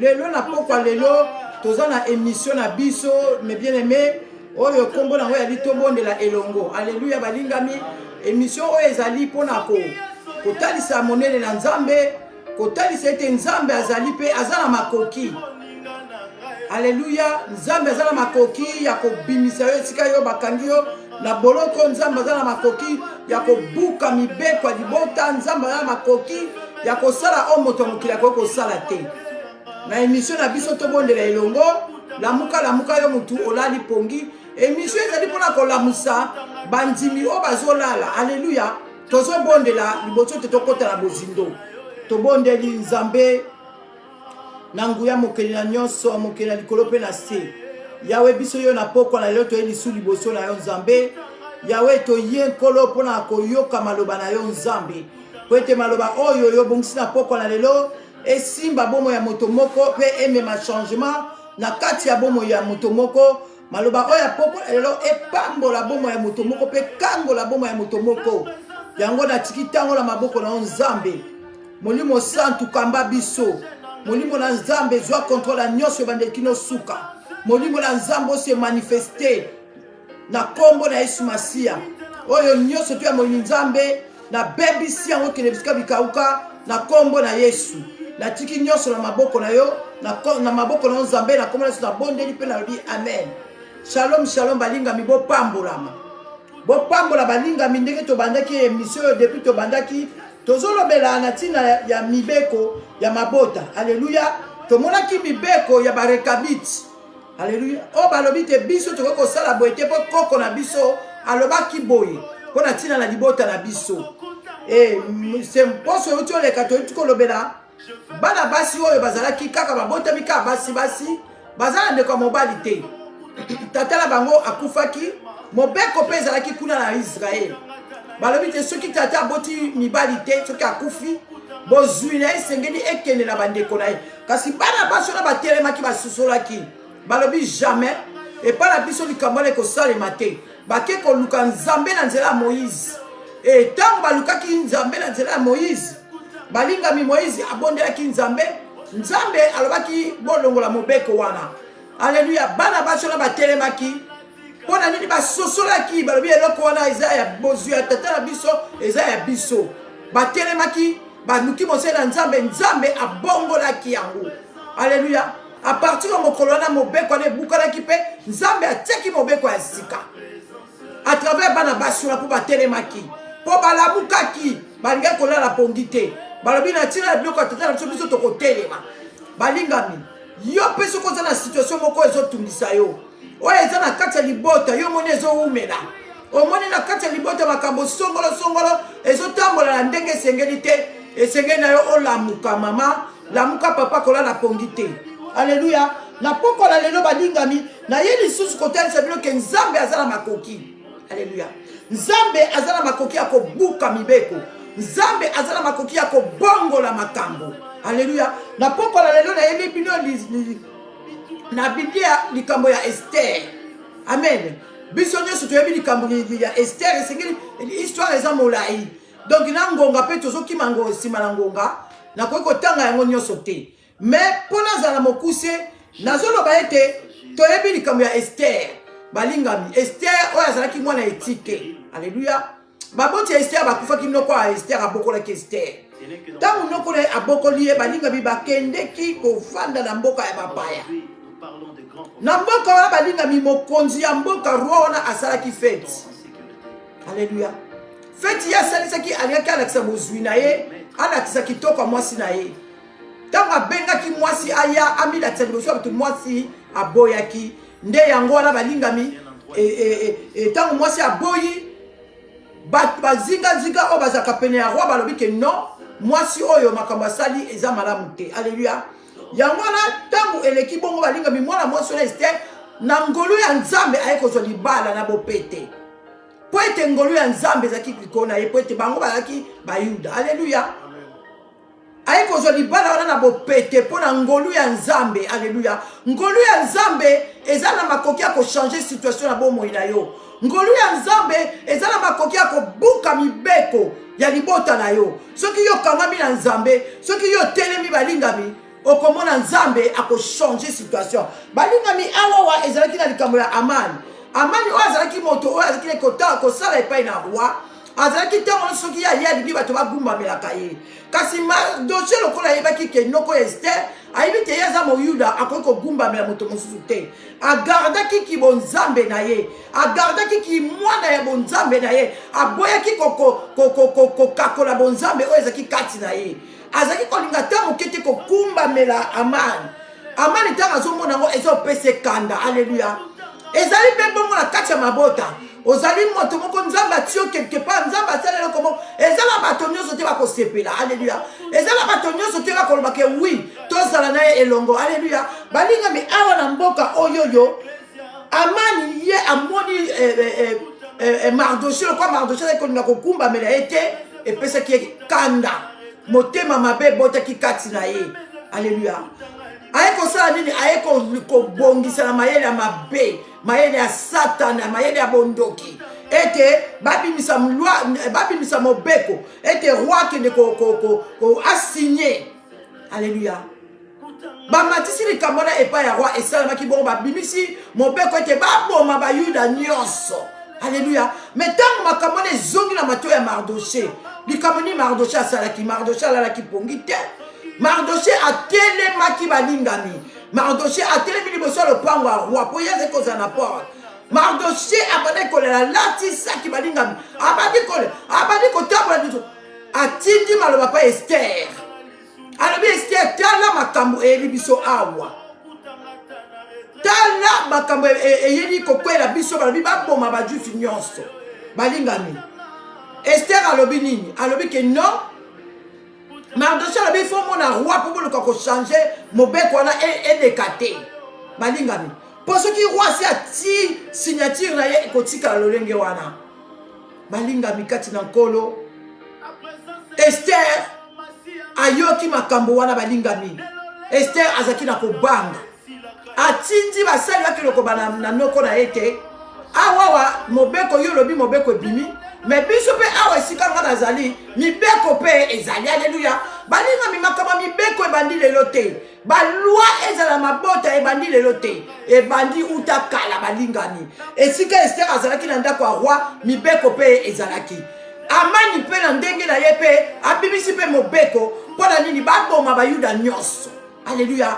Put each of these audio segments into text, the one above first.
Lelo na pokwa lelo toza na emission na biso mes bien aimés oyo kombo nango yali tobondela elongo. Alléluia balingami. Emission oyo ezali pona ko kotalisa monene na Nzambe, kotalisa ete Nzambe azali pe aza na makoki. Alléluia, Nzambe aza na makoki ya kobimisa yo esika yo bakangi yo Na boloko oyo, Nzambe aza na makoki ya kobuka mibeko ya libota. Nzambe aza na makoki ya kosala oyo moto ya mokili akoki kosala te. Na emission na biso tobondela elongo, lamuka lamuka yo motu olali pongi. Emission ezali mpona kolamusa bandimi oyo bazolala. Aleluya! Tozobondela liboso te tokota na bozindo. Tobondeli Nzambe. na nguya mokeli na nyonso mokeli na likolo mpe na se yawe biso yo na pokwa na lelo toye lisu liboso na yo nzambe yawe toye nkolo mpo na koyoka maloba na yo nzambe mpo ete maloba oyo yo obongisi na pokwa na lelo esimba bomoi ya moto moko mpe emema changement na kati ya bomoi ya moto moko maloba oyo ya pokwa ya lelo epambola bomoi ya moto moko mpe ekangola bomoi ya moto moko yango natiki ntango na maboko na yo nzambe molimo santu kamba biso molimo na nzambe zwa kontrol ya nyonso ebandeli kino suka molimo na nzambe ose manifeste na nkombo na yesu masiya oyo nyonso to ya molimo nzambe nabebisi yango ekende bisika bikauka na nkombo na yesu natiki nyonso na maboko na yo na maboko na yo nzambe na nkombo na yesu nabondeli mpe nalobi amen shalom shalom balingami bopambolama bopambola balingami ndenge tobandaki emission oyo depuis tobandaki tozolobela na ntina ya mibeko ya mabota aleluya tomonaki mibeko ya barekabite Alleluia. Oh balobi te biso tokoki kosala boye te mpo koko na biso alobaki boye mpo na ntina na libota na biso. Eh, se mposo euti oleka toyuti kolobela bana basi oyo bazalaki kaka babotami kaka basi basi baza na ndeko ya mobali te tata na bango akufaki mobeko mpe ezalaki kuna na israele balobi te soki tata aboti mibali te soki akufi bozwi na ye esengeli ekende na bandeko na ye kasi bana basi wana batelemaki basosolaki balobi jamais epai na biso likambo wana ekosalema te bake koluka nzambe na nzela ya moïse e ntango balukaki nzambe na nzela ya moïse balingami moïse abondelaki nzambe nzambe alobaki bolongola mobeko wana aleluya bana basi wana batelemaki mpo na nini basosolaki balobi eloko wana eza ya bozwi ya tata na biso eza ya biso batelemaki baluki mosele ya nzambe nzambe abongolaki yango aleluya apartir ya mokolo wana mobeko wana ebukanaki mpe nzambe atiaki mobeko ya sika à travers bana basi wana mpo batelemaki mpo balamukaki balingaki kolala pongi te balobi na ntina ya biloko ya tata na biso biso tokotelema balingami yo mpe soki oza na situation moko ezotungisa yo oyo eza na kati ya libota yo omoni ezowumela omoni na kati ya libota makambo songolosongolo ezotambola na ndenge esengeli te esengeli na yo olamuka mama lamuka papa kolala pongi te aleluya napokola lelo balingami naye lisusu kotalisa bino ke nzambe aza na makoki aleluya nzambe aza na makoki ya kobuka mibeko nzambe aza na makoki ya kobongola makambo aleluya napokola lelo nayebi bino na biblia likambo ya estere amen biso nyonso toyebi likambo ya estere esengeli histoire eza molai donk na ngonga mpe tozokima ngo nsima na ngonga nakoki kotanga yango nyonso te me mpo nazala mokuse nazoloba ete toyebi likambo ya estere balingami estere oyo azalaki mwana etike aleluya baboti ya estere bakufaki noko ya estere abokolaki estere ntango noko na ye abokoli ye balingami bakendeki kofanda na mboka ya bapaya na mboka wana balingami mokonzi ya mboka roi wana asalaki feti aleluya feti ye asalisaki alingaki alakisa bozwi na ye alakisa kitoko ya mwasi na ye ntango abengaki mwasi aya amilatisa liboso ya bato mwasi aboyaki Nde yango wana balingami, ntango mwasi aboyi, bato bazingazinga oyo bazalaka pene ya roi balobi ke non, mwasi oyo makambo asali eza malamu te. Aleluya! yango wana ntango eleki bongo balingami mwana mwasi wana estere na ngolu ya nzambe aye kozwa libala na bopete mpo ete ngolu ya nzambe ezalaki likolo na ye mpo ete bango bazalaki bayuda aleluya aye kozwa libala wana na bopete mpo na ngolu ya nzambe aleluya ngolu ya nzambe eza na makoki ya kochange situation na bomoi na yo ngolu ya nzambe eza na makoki ya kobuka mibeko ya libota na yo soki yo okangami na nzambe soki yo otelemi balingami okomona nzambe akochange situation balingami awawa ezalaki na likambo ya amani amani oyo azalaki moto oyo azalaki kosala epai na roi azalaki ntango nyonso soki ye aye alingi bato bagumbamelaka ye kasi mardoche lokola ayebaki ke noko ya ester ayebi te ye aza moyuda akoki kogumbamela moto mosusu te agardaki kibonzambe na ye agardaki kimwana ya bonzambe na ye aboyaki kokakola bonzambe oyo ezalaki kati na ye azalaki kolinga ata moke te kokumbamela amane amani ntango azomona yango eza opesa ekanda aleluya ezali mpe bongo na kati ya mabota ozali moto moko nzambe atiyo quelque part nzambe asala eloko moko eza na bato nyonso te bakosepela aleluya eza na bato nyonso te bakolobake wi tozala na ye elongo aleluya balingami awa na mboka oyoyo amani ye amoni eh, eh, eh, mardoche lokwa mardoche azali kolinga kokumbamela ye te epesaki ye kanda motema mabe ebotaki kati na ye aleluya aye kosala nini aye kobongisa na mayele ya mabe mayele ya satana mayele ya bondoki ete babimisa mobeko ete roi akende asigne alleluya bamatisi likambo wana epai ya roi esalemaki bongo babimisi mobeko ete baboma bayuda nyonso alleluya me ntango makambo wana ezongi na mato ya mardoshe likambo nini mardoshe asalaki mardoshe alalaki pongi te mardoshe atelemaki balingami mardoshe atelemi liboso ya lopango ya roi mpo ye azali kozala na porte mardoshe abandaki kolela alatisaki balingami abandi kotambola atindi maloba pa ester alobi ester tala makambo eyebi biso awa tala makambo e, e, eyeli kokwela biso balobi baboma bajusi nyonso balingami ester alobi nini alobi ke non mardoche alobi ifo omona roi mpo boluka kochange mobeko wana e, eleka te balingami mpo soki roi asi ati signature na ye ekotikala lolenge wana balingami kati na nkolo ester ayoki makambo wana balingami ester azalaki na kobanga atindi basali bakilokoba na, na noko na ye te awawa mobeko yo olobi mobeko ebimi me biso mpe awa esika nga nazali mibeko mpe ezali aleluya balingami makambo mibeko ebandi lelo te balwa ezala mabota ebandi lelo te ebandi uta kala balingani esika estere azalaki na ndako ya roi mibeko mpe ezalaki amani mpe na ndenge na ye mpe abimisi mpe mobeko mpo na nini baboma bayuda nyonso aleluya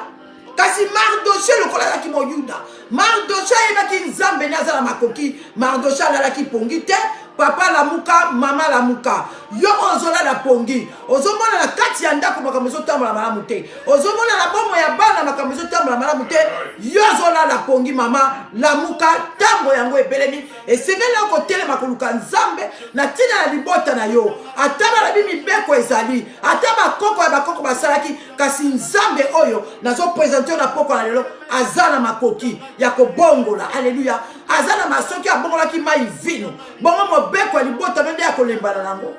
kasi mardoshe lokola azalaki moyuda Mardochee ayebaki nzambe nde aza na makoki Mardochee alalaki pongi te papa lamuka maman lamuka yo ozolala pongi ozomona na kati ya ndako makambo ezotambola malamu te ozomona na bomo ya bana makambo ezotambola malamu te yo ozolala pongi mama lamuka ntango yango ebelemi esengeli na kotelema koluka nzambe na ntina ya libota na yo ata balabi mibeko ezali ata bakoko ya bakoko basalaki kasi nzambe oyo nazopresente yo na pokwa na lelo aza na makoki ya kobongola aleluya aza na masoki abongolaki mai vino bongo mobeko ya libota no nde ya kolembana nango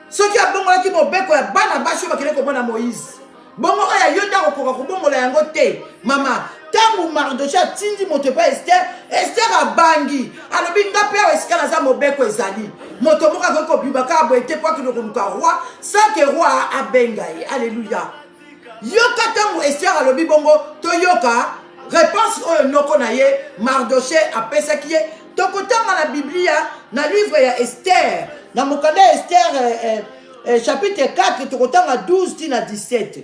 soki abongolaki mobeko ya bana basi oyo bakende komona moïse bongo oyo ayo nde akokoka kobongola yango te mama ntango mardoche atindi moto epai ester ester abangi alobi nga mpe awa esika naza mobeko ezali moto moko akoki kobima kaka boye te mpo akende koluka roi sans ke roi abenga ye alleluya yoka ntango ester alobi bongo toyoka reponse oyo noko na ye mardoche apesaki ye tokotanga na biblia na livre ya ester na mokanda ya ester eh, eh, eh, chapitre 4 tokotanga 12 ti na 17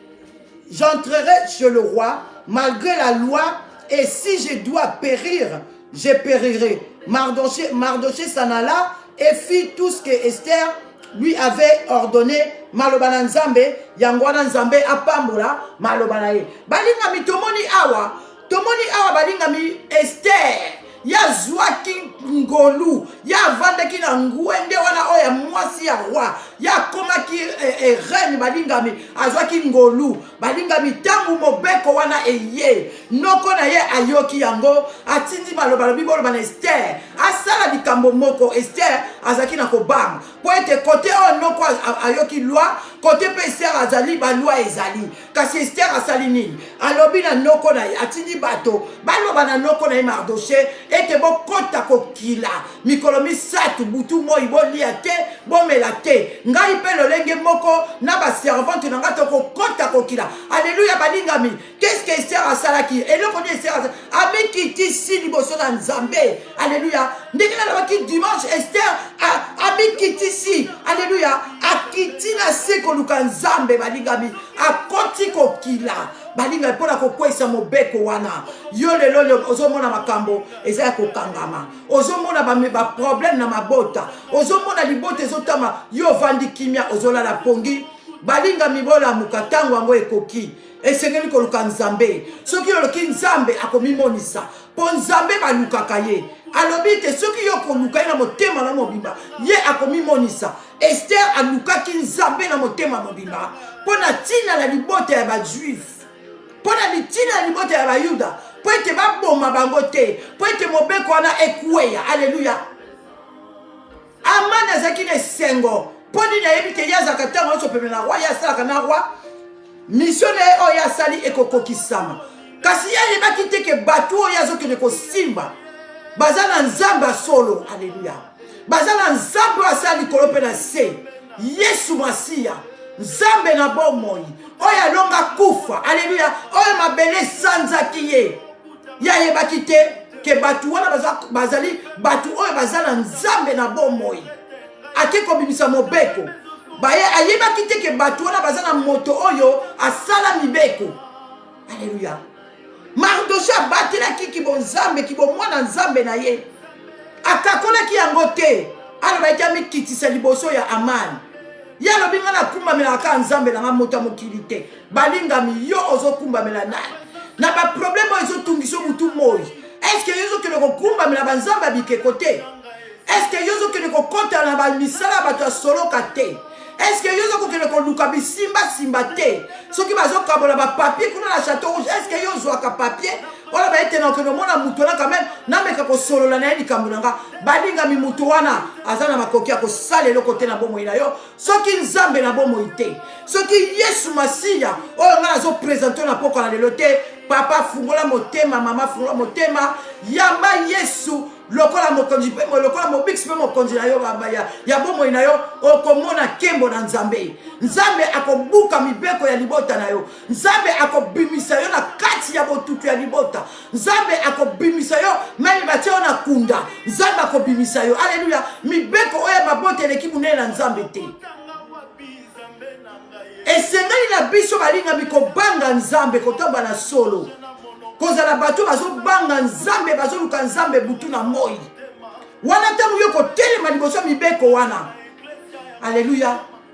J'entrerai chez le roi malgré la loi et si je dois périr, je périrai. Mardoché, Mardoché s'en alla et fit tout ce que Esther lui avait ordonné maloba na nzambe yango wana nzambe apambola maloba na ye balingami tomoni awa tomoni awa balingami estere ye azwaki ngolu ye avandaki na ngwende wana oyo ya mwasi ya roi ye akomaki eh, eh, reine balingami azwaki ngolu balingami ntango mobeko wana eye noko na ye ayoki yango atindi maloba lobi boloba na ester asala likambo moko ester azalaki na kobanga mpo ete kote oyo noko ayoki lwa kote mpe ester azali balwa ezali kasi estere asali nini alobi na noko na ye atindi bato baloba na noko na ye mardoshe ete bokota kokila mikolo misato butu moi bolia te bomela te ngai mpe lolenge moko na baservante na ngai tokokota kokila aleluya balingami keske estere asalaki eloko nini estere amikitisi liboso na nzambe aleluya ndenge nalobaki dimanche ester amikitisi aleluya akiti na se koluka nzambe balingami akoti kokila balingami mpo na kokweisa mobeko wana yo lelo oyo ozomona makambo eza ya kokangama ozomona baproblème na mabota ozomona libota ezotama yo ovandi kimia ozolala pongi balingami bolamuka ntango yango ekoki Esengeli koluka Nzambe. Soki oloki Nzambe, akomimonisa. Mpo Nzambe balukaka ye. Alobi te soki yo koluka ye na motema na mobimba, ye akomimonisa. Esther alukaki Nzambe na motema mobimba mpo na ntina na libota ya Bajuife, mpo na mitina ya libota ya Bayuda, mpo ete baboma bango te, mpo ete mobeko wana ekweya. Aleluya! Amani azalaki na esengo mpo nini ayebi te ye azalaka ntango nyonso pembe na roi ye asalaka na roi misio na ye oyo asali ekokokisama kasi ye ayebaki te ke bato oyo azokende kosimba baza na nzambe ya solo aleluya baza na nzambe oyo asala likolo mpe na se yesu masiya nzambe na bomoi oyo alonga kufa aleluya oyo mabele esanzaki ye ye ayebaki te ke bato wana bazali bato oyo baza na nzambe na bomoi ake kobimisa mobeko baye ayebaki te ke bato wana baza na moto oyo asala mibeko aleluya mardoshe abatelaki kibonzambe kibomwana nzambe na ye akakolaki yango te alobaki amikitisa liboso ya amani ye alobi ngai nakumbamelaka kaka nzambe na ngai moto ya mokili te balingami yo ozokumbamela nani na baproblème oyo ezotungisa motu moi estce yo ozokende kokumbamela banzambe ya bikeko te estce yo ozokende kokota na bamisala ya bato ya soloka te estce yo ozokokende koluka bisimbasimba te soki bazokabola bapapier kuna na chateau rouge estce yo ozwaka papier oyo bayete na okende omona moto wana quand même nameka kosolola na ye likambo na nga balingami moto wana aza na makoki ya kosala eloko te na bomoi na yo soki nzambe na bomoi te soki yesu masiya oyo ngai nazopresente na pokwa na lelo te papa fungola motema mama fungola motema yamba yesu lokola mokonzi mpe lokola mobikisi mpe mokonzi na yo ya, ya bomoi na yo okomona nkembo na nzambe nzambe akobuka mibeko ya libota na yo nzambe akobimisa yo na kati ya botutu ya libota nzambe akobimisa yo meme batie yo na kunda nzambe akobimisa yo aleluya mibeko oyo ya mabota eleki monene na nzambe te esengeli na biso balingami kobanga nzambe kotomba na solo kozala bato bazobanga nzambe bazoluka nzambe butu na moi wana ntango yo kotelema liboso mibeko wana aleluya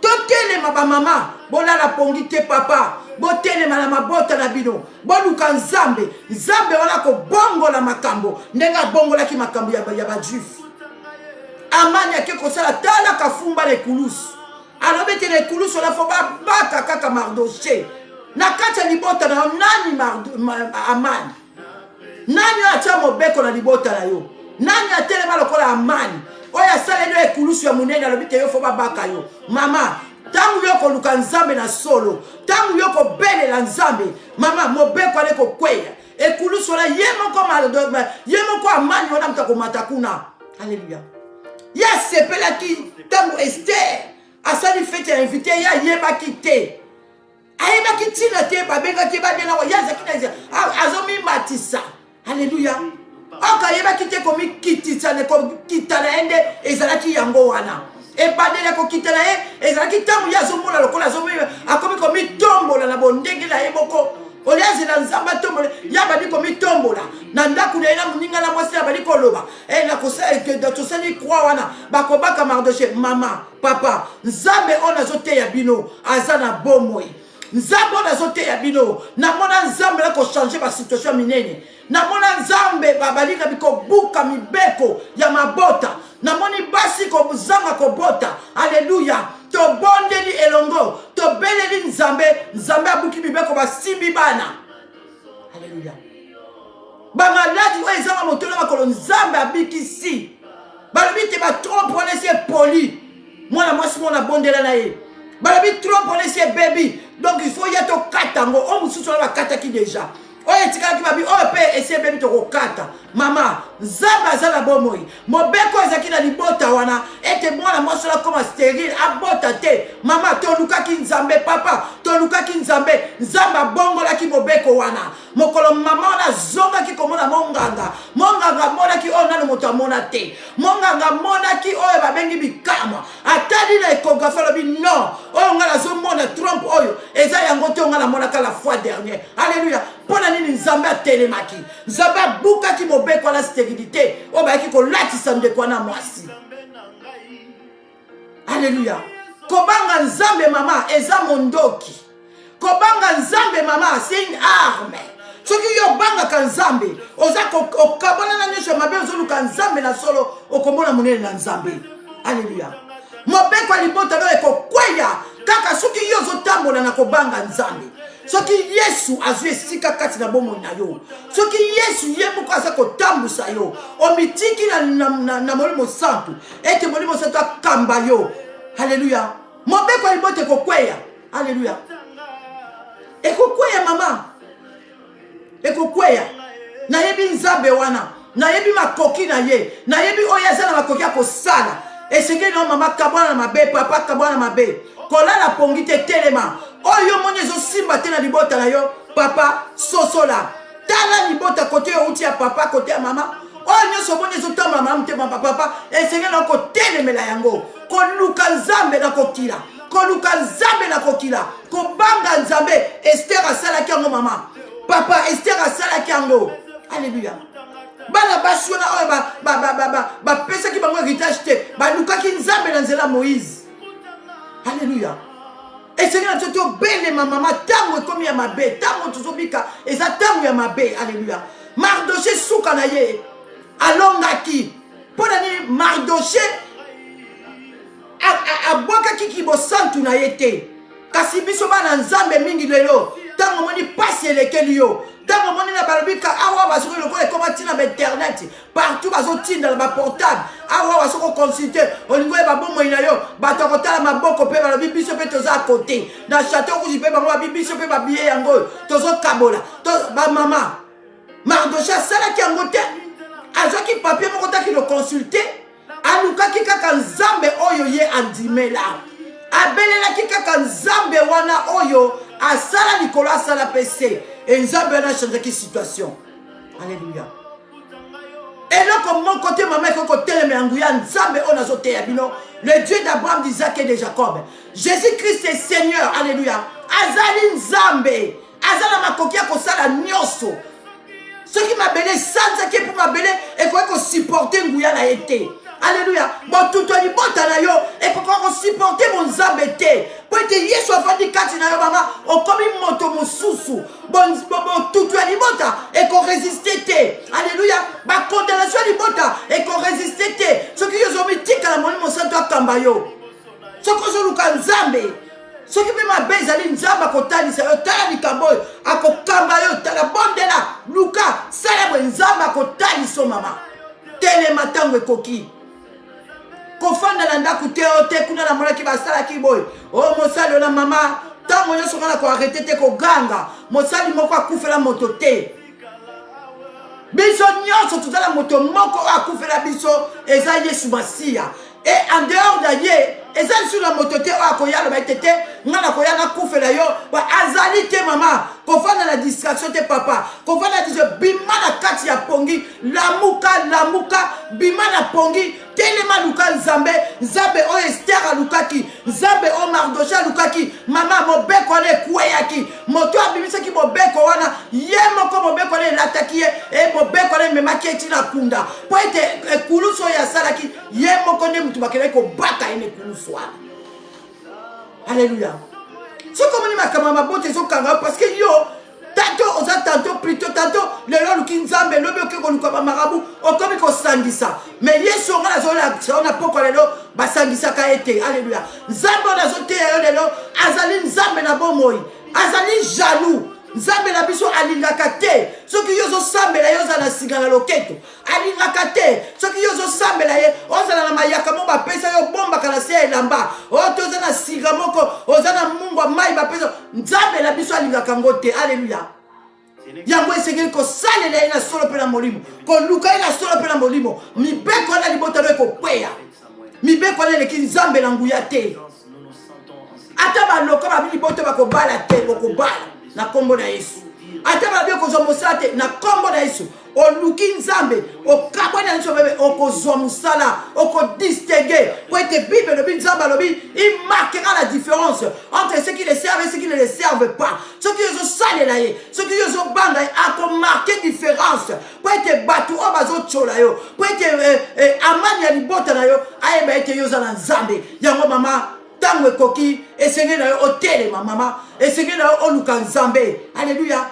Totelema ba mama bolala pongi te papa botelema na mabota na bino boluka nzambe nzambe wana kobongola makambo ndenge abongolaki makambo ya, ya bajuife amani ake kosala tala kafumba na ekulusu alobi ete na ekulusu wana fo babaka kaka mardoche na kati ya libota na yo nani amani nani oyo atya mobeko na libota na yo nani atelema lokola amani oyo asaleli yo ekulusu ya monene alobi te yo fo babaka yo mama ntango yo koluka nzambe na solo ntango yo kobelela nzambe mama mobeko ale kokweya ekulusu wana ye moko ye moko amani wana moto akomata kuna aleluya ye asepelaki ntango ester asali fete ya invité ye ayebaki te ayebaki ntina te babengaki ye babela ye azalaki na azomimatisa aleluya oko ayebaki te komikitisa kokita na ye nde ezalaki yango wana ebandeli ya kokita na ye ezalaki ntango ye azomona lokola akomi komitombola na bondenge na ye moko oyo azela nzambe atombola ye abandi komitombola na ndako na ye na moninga na mwasi abandi koloba eh, tosali kwa wana bakobaka mardoche mama Papa, Nzambe oyo nazo teya bino aza na bomoi. Nzambe oyo nazo teya bino, namona Nzambe na ko changer ba situation minene. Namona Nzambe babalinga biko buka mibeko ya mabota. Namoni basi ko zanga ko bota. Alléluia. Tobondeli elongo, tobeleli Nzambe, Nzambe abuki mibeko basimbi bana. aleluya bamaladi oyo ezanga moto na makolo nzambe abikisi balobi te batrompe wana esi epoli mwana mwasi mona abondela na ye balobi trompe wana esi ebebi donc il faut ya tokata yango oyo mosusu wana bakataki deja oyo etikalaki babi oyo mpe esi ebebi tokokata mama nzambe aza na bomoi Mobeko ezalaki na libota wana ete mwana mwasi wana akoma sterile, abota te. Mama, tolukaki Nzambe. Papa, tolukaki Nzambe. Nzambe abongolaki mobeko wana. Mokolo mama wana azongaki komona monganga, monganga amonaki oyo nano moto amona te. Monganga amonaki oyo babengi bikamwa. Atali na ekografi alobi non, oyo ngai nazomona trompe oyo eza yango te, oyo ngai namonaka la fois dernière. Aleluya! Mpo na nini Nzambe atelemaki? Nzambe abukaki mobeko wana sterilite oyo bayaki kolatisa ndeko wana mwasi. Aleluya. Kobanga Nzambe mama eza mondoki. Kobanga Nzambe mama c'est une arme. soki yo obangaka nzambe oza okabwana na nyonso ya mabe ozoluka nzambe na solo okomona monene na nzambe aleluya mobeko ya libota nayo ekokweya kaka soki yo ozotambola na kobanga nzambe soki yesu azwi esika kati na bomoi na yo soki yesu ye moko aza kotambwisa yo omitiki na, na, na, na molimo santu ete molimo santu akamba yo haleluya mobeko ya libota ekokweya haleluya ekokweya mama Ekokweya. Nayebi Nzambe wana. Nayebi makoki na ye. Nayebi oyo aza na makoki ya kosala. Esengeli na yo mama kabwana na mabe, papa kabwana na mabe. Kolala pongi te, telema. Oyo yo moni ezosimba te na libota na yo, papa sosola. Tala libota kote yo outi ya papa, kote ya mama. Oyo nyonso omoni ezotambola malamu te, mama papa, esengeli na yo kotelemela yango. Koluka Nzambe na kokila. Koluka Nzambe na kokila. Kobanga Nzambe. Esther asalaki yango mama. papa ester asalaki yango aleluya bana basi wana oyo bapesaki bango héritage te balukaki nzambe na nzela moïse aleluya esengi na biso tobelema mama ntango ekomi ya mabe ntango tozobika eza ntango ya mabe aleluya mardoche suka na ye alongaki mpo na nini mardoche abwakaki kibosantu na ye te kasi biso bana nzambe mingi lelo ntango omoni mpasi elekeli yo ntango omoni na balobi ka awa basoki lokola ekoma ntina ba internet partout bazotindala baportable awa basoki oconsulte olingi oyeba bomoi na yo bato ya kotala maboko mpe balobi biso mpe toza kote na chateau rouge mpe bango babi biso mpe babiye yango oyo tozokabola bamama mardoche asalaki yango te azwaki papie moko taki loconsulte alukaki kaka nzambe oyo ye andimela abelelaki kaka nzambe wana oyo asala likolo asala mpe se e nzambe wana achangeaki situation alleluya eloko moko te mama ekoki kotelemela nguya nzambe oyo nazoteya bino le dieu d'abraham d'isaac et de jacob jésus christ est seigneur alleluya azali nzambe aza na makoki ya kosala nyonso soki mabele esanzaki mpo mabele ekoki kosupporte nguya na ye te aleluya botutu ya libota na yo ekokoka kosupporte bonzambe te mpo ete yesu afandi kati na yo mama okomi moto mosusu botutu ya libota ekoresiste te aleluya bakondanatio ya libota ekoresiste te soki yo ozomitikala molimo santu akamba yo soki ozoluka nzambe soki mpe mabe ezali nzambe akotalisa yo tala likambo oyo akokamba yo tala bondela luka sala boye nzambe akotalisa yo mama telema ntango ekoki kofanda na ndako te o te kuna namonaki basalaki boye o oh, mosali yo na mama ntango nyonso nga na koarete te koganga mosali moko akufela moto te biso nyonso tozala moto moko oyo akufela biso eza yesu masiya e en dehors de ye eza lisusu na moto te oyo akoya aloba ete te ngai nakoya nakufela yo azali te mama kovanda na distraction te papa kovanda diso bima na kati ya pongi lamuka lamuka bima na pongi telema luka nzambe nzambe oyo ester alukaki nzambe oyo mardoshe alukaki mama mobeko wana ekweyaki moto abimisaki mobeko wana ye moko mobeko wana elataki ye e mobeko wana ememaki eti na kunda mpo ete ekulusu oyo asalaki ye moko nde moto bakendaki kobaka ye na ekulusu wana alleluya soki omoni makambo ya mabota ezokanga yo parce que yo tanto oza tanto plito tanto lelo oluki nzambe lobi oke koluka bamarabu okomi kosangisa me yesu onga nazolakisa yo na pokwa lelo basangisaka ye te alleluya nzambe oyo nazoteya yo lelo azali nzambe na bomoi azali jaloux nzambe na biso alingaka te soki yo ozosambela yo ozala na singa na loketo Alingaka te soki yo ozosambela ye ozala na mayaka moko bapesa yo obombaka na se ya elamba oyo to oza na siga moko oza na mungwa mai bapesa nzambe na biso alingaka yango te aleluya yango esengeli kosalela ye na solo mpe na molimo koluka ye na solo mpe na molimo mibeko wana libota no ekokweya mibeko wana eleki nzambe na nguya te ata baloka babi libota bakobala te bokobala na nkombo na yesu ata babi okozwa mosala te na nkombo na yesu oluki nzambe okabwani na biso bebe okozwa mosala okodistingue mpo ete bible elobi nzambe alobi imarkera la différence entre ce qui le serve et ce qui ne le serve pas soki yo ozosalela ye soki yo ozobanga ye akomarke différence mpo ete bato oyo bazotyola yo mpo ete eh, eh, amani ya libota na yo ayeba ete yo oza na nzambe yango mama ntango ekoki esengeli na yo otelema mama esengeli na yo oluka nzambe aleluya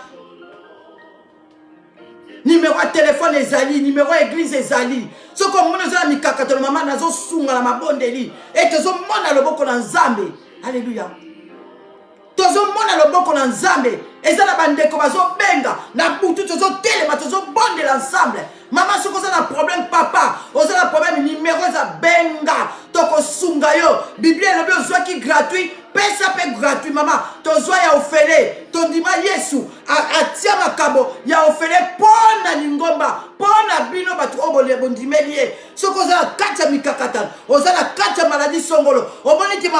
nimero ya telefone ezali nimero ya eglize ezali soki omoni oza na mikakatano mama nazosunga na mabondeli ete ozomona loboko na nzambe aleluya tozomona loboko na nzambe eza na bandeko bazobenga na butu tozotelema tozobondela ensemble Maman soki oza na problème papa oza na problème numero eza benga tokosunga yo biblia elobi ozwaki gratuit pesa mpe gratuit mama tozwa ya ofele tondima yesu atia makabo ya ofele mpo na lingomba mpo na bino bato oyo bondimeli ye soki oza na kati ya mikakatano oza na kati ya maladie songolo omoni te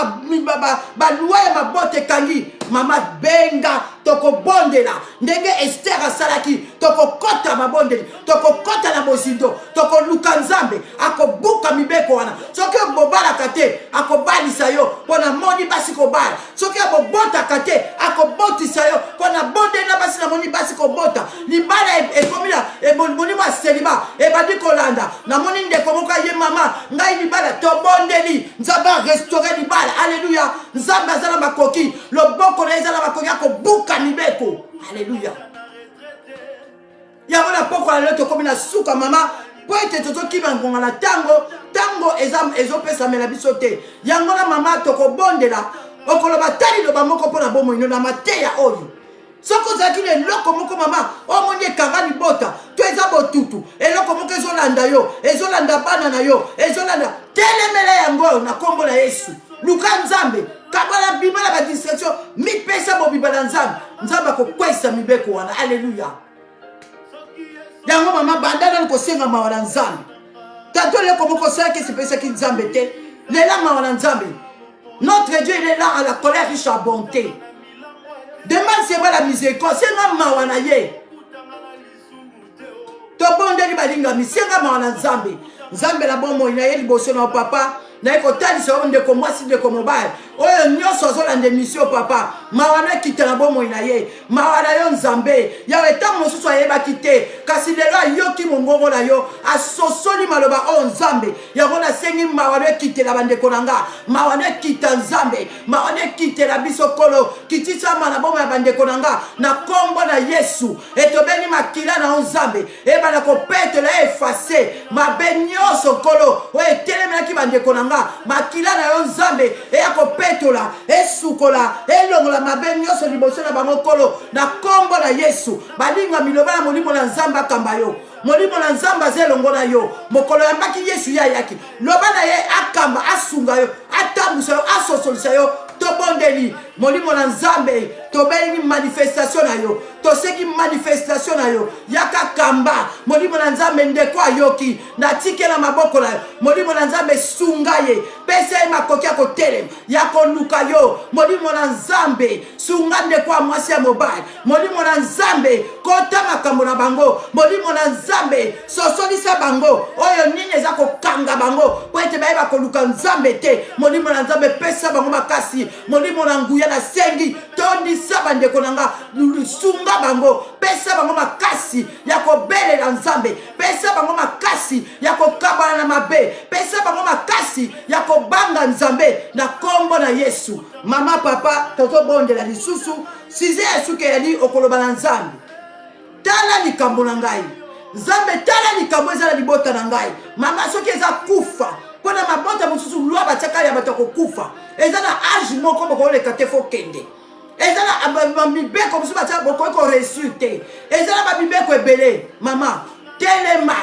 balwa ya mabota ekangi mama benga tokobondela ndenge ester asalaki tokokɔta mabondeli tokokɔta na bozindo tokoluka nzambe akobuka mibeko wana soki obobalaka te akobalisa yo mpo namoni basi kobala soki akobotaka te akobotisa yo mpo na bonde na basi namoni basi kobota libala e- ekomi na e- molimo ya seliba ebandi kolanda namoni ndeko moko aye mama ngai libala tobondeli nzambe arestaure libala aleluya nzambe aza na makoki loboko na ye eza na makoki akobuka mibeko aleluya yango na pokwa na lelo tokomi na suka mama mpo ete tozokima ngonga na ntango ntango ezopesamela biso te yango na mama tokobondela okoloba ta liloba moko mpo na bomoi no na mateya oyo soki ozalaki na eloko moko mama omoni ekanga libota to eza botutu eloko moko ezolanda yo ezolanda bana na yo ezolanda telemela yango na nkombo na yesu luka nzambe kabala bima na badistraction mipesa bobima na nzambe nzambe akokwesa mibeko wana aleluya yango mama banda nani kosenga mawa na nzambe tato eleko moko osalaki esepesaki nzambe te lela mawa na nzambe notre dieu il est là à la colère riche à bonté demande seba la miséricorde senga mawa na ye tobondeli balingami senga mawa na nzambe nzambe na bomoi na ye liboso na yo papa naye kotalisa yo ndeko mwasi ndeko mobali oyo nyonso azolanda emisio papa mawa na ekita na bomoi na ye mawa na yo nzambe yawe ntango mosusu ayebaki te kasi lelo ayoki mongongo na yo asosoli maloba oyo nzambe yango nasengi mawa na ekitela bandeko na nga mawa na ekita nzambe mawa na ekitela biso kolo kitisama na bomoi ya bandeko na nga na nkombo na yesu etobeni makila na yo nzambe ebanda kopetola efase mabe nyonso nkolo oyo etelemelaki bandeko na nga makila na yo nzambe eya kopetola esukola elongola mabe nyonso liboso na bango nkolo na nkombo na yesu balinga miloba na molimo na nzambe akamba yo molimo na nzambe aza elongo na yo mokolo yambaki yesu ye ayaki loba na ye akamba asunga yo atambusa yo asosolisa yo tobondeli Molimo na Nzambe, tobeini manifestation na yo, toseki manifestation na yo. Yaka kamba Molimo na Nzambe, ndeko ayoki, natikela maboko na yo. Molimo na Nzambe, sunga ye, pesa ye makoki ya kotelema, ya koluka yo. Molimo na Nzambe, sunga ndeko ya mwasi ya mobali. molimo na nzambe kota makambo na bango molimo na nzambe sosolisa bango oyo nini eza kokanga bango mpo ete bayeba koluka nzambe te molimo na nzambe pesa bango makasi molimo na nguya nasengi tondisa bandeko na nga sunga bango pesa bango makasi ya kobelela nzambe pesa bango makasi ya kokabana na mabe pesa bango makasi ya kobanga nzambe na nkombo na yesu mama papa tozobondela lisusu Size ya suka ya nini okoloba na Nzambe? Tala likambo na ngai. Nzambe tala likambo eza na libota na ngai. Mama soki eza kufa mpo na mabota mosusu lwa batiaka ya bato ya kokufa eza na age moko bokoleka te fo kende eza na bamibeko mosusu batia bokoki koreusir te eza na bamibeko ebele mama telema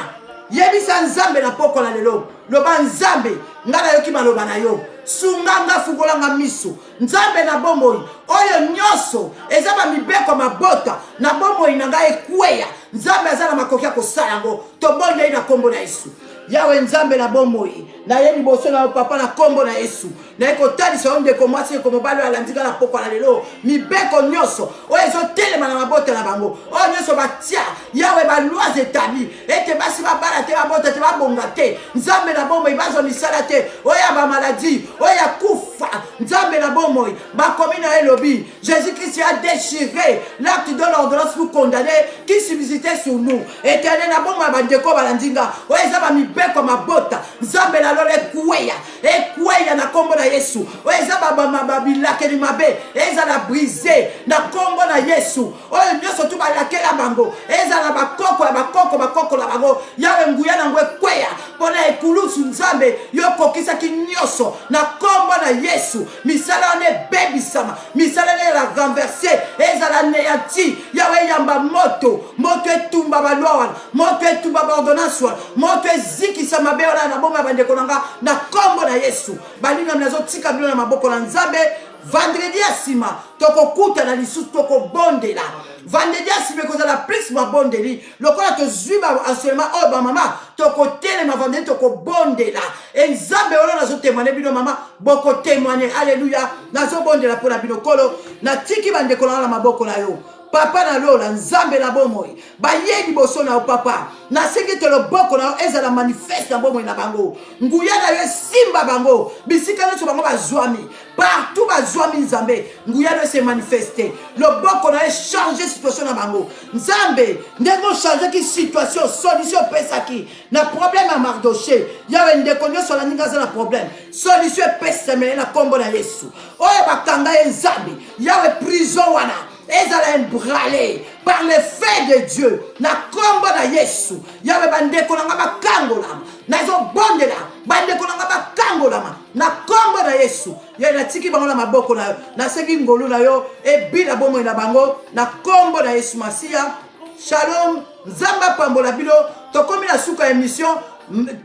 yebisa nzambe na pokwa na lelo loba nzambe ngai nayoki maloba na yo sunga nga fungola nga miso nzambe na bomoi oyo nyonso eza bamibeko mabota na bomoi na ngai ekweya nzambe aza na makoki ya kosala yango tobonde ye na nkombo na yesu yawe nzambe na bomoi naye liboso na yo papa na nkombo na yesu naye kotalisa yo ndeko mwasi ndeko mobali oyo alandi ngai na pokwa na lelo mibeko nyonso oyo ezotelema na mabota na bango oyo nyonso batya Yahweh ba lois etabli ete basi babala te babota te babonga te nzambe na bomoi bazwa misala te oyo ya bamaladi oyo ya kufa nzambe na bomoi bakomi na elobi jésus christ a déchiré l'acte de l'ordonnance pour condamner qui subsistait sur nous etele na bomoi ya bandeko balandi nga oyo eza bamibeko mabota nzambe na lola ekweya ekweya na nkombo na yesu oyo eza babilakeli mabe ezala brise na nkombo na yesu Oyo nyoso tu balakela bango ezala na bakoko ya bakoko bakoko na bango, Yawe nguya na yango ekweya mpo na ekulusu. Nzambe, Yo okokisaki nyoso na Kombo na Yesu. Misala wana ebebisama, misala wana ezala renverse, ezala aneanti. Yawe, yamba moto, moto etumba ba loi wana, moto etumba ba ordonnance wana, moto ezikisa mabe wana na bomoi ya bandeko na nga, na Kombo na Yesu. Balingami, nazotika bino na maboko na Nzambe. Vendredi ya sima tokokutana lisusu tokobondela. Vendredi ya sima ekozala plus mabondeli lokola tozwi ba enseignement oyo bamama tokotelema vendredi tokobondela e nzambe wana nazotemwane bino mama bokotemwane aleluya nazobondela mpo na bino kolo natiki bandeko nanga na maboko na yo Papa na lola, Nzambe na bomoi, bayei liboso na yo, Papa. Nasengi ete loboko na yo ezala manifeste na bomoi na bango. Nguya na yo esimba bango bisika nyonso bango bazwami, partout bazwami, Nzambe. Nguya na yo se manifeste, loboko na yo echange situation na bango, Nzambe. Ndenge ochangeki situation, solution epesaki na problème ya Mardoche, yawe ndeko nyonso alandinga aza na problème, solution epesamele na kombo na Yesu. oyo bakanga ye nzambe yawe prison wana ezala embrale par le fin de dieu na nkombo na yesu yawe bandeko na nga bakangolama nazobondela bandeko na nga bakangolama na nkombo na yesu ye natiki bango na maboko na yo nasengi ngolu na yo ebila bomoi na bango na nkombo na yesu masiya shalom Nzambe apambola bino tokomi na suka emission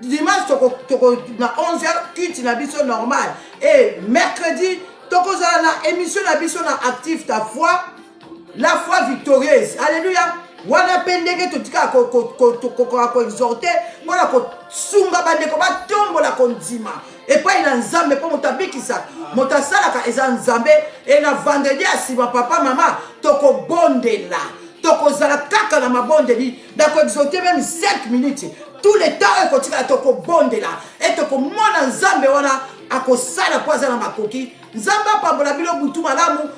dimanche toko, toko na 11h culte na biso normal et mercredi tokozala na émission na biso na active ta foi la foi victorieuse alléluia wana mpe ndenge totikaka kokoka koexhorte mpona kosunga bandeko batombola kondima epai na nzambe mpo moto abikisa moto asalaka eza nzambe e na vendredi ya nsima papa mama tokobondela tokozala kaka na mabondeli nakoexote meme 5 minutes tout le temps oyo ekotikala tokobondela e tokomona nzambe wana akosala mpo aza na makoki nzambe apambola bino butu malamu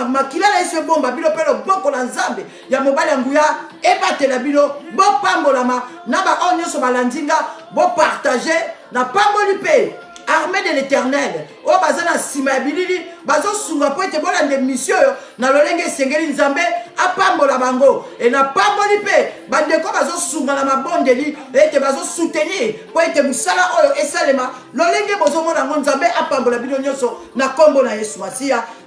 makila na yesu ebomba bino mpe loboko na nzambe ya mobali ya nguya ebatela bino bopambolama na baoyo nyonso balandi nga bopartage napamboli mpe armée de l'éternel oyo oh, baza na nsima ya bilili bazosunga mpo ete bolanda emisio oyo na lolenge esengeli nzambe apambola bango e napamboli mpe bandeko bazosunga na mabondeli ete bazosoutenir mpo ete mosala oyo esalema lolenge bozomona yango nzambe apambola bino nyonso na nkombo na yesu masiya